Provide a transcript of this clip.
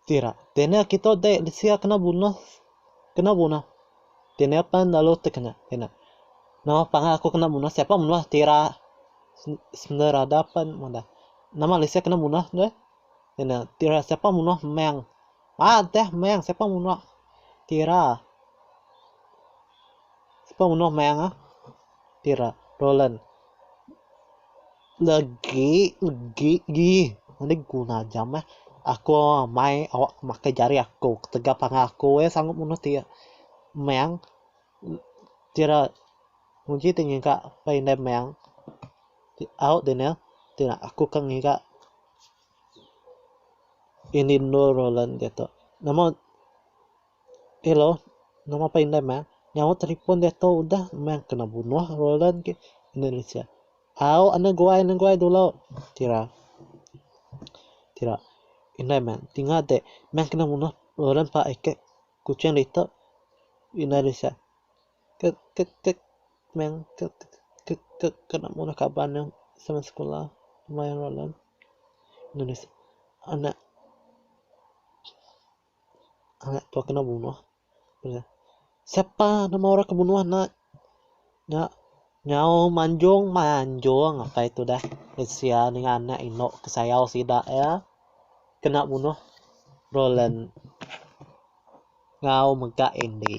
Sira. Dini kita dek sia kena bunuh kena bunuh. Dini pan lalu tekena kena. Nama pangan aku kena bunuh siapa menuh tira sender ada pan meda. Nama lisia kena bunuh deh. Kena tira siapa menuh meng. Haa entah meh siapa munuh tira siapa munuh meh ah tira roland legi legi gi enda guna aja meh aku amai awak makai jari aku ketegal pangan aku weh sanggup munuh ti meh tira nguji ti ngiga meh au deh ne aku ke ngiga. Ini endur Roland diak tu. Nama hello nama pah indai meh nyaut telefon diak tu udah meh kena bunuh Roland ti enda lesen. Au anu guai anu guai dulu ti ra ti ra indai meh ti ngade meh kena bunuh Roland pah ikit Kuching ditu enda lesen. Kek kek kek meh kek kek kek kek kena murah kaban neh sama sekula mai Roland nulis anak anak tu kena bunuh siapa nama orang ke bunuh anak nya nyaung manjung manjung apai tu dah sia ninga anak inu ke sayau sida iya kena bunuh Roland. ngau mega Andy.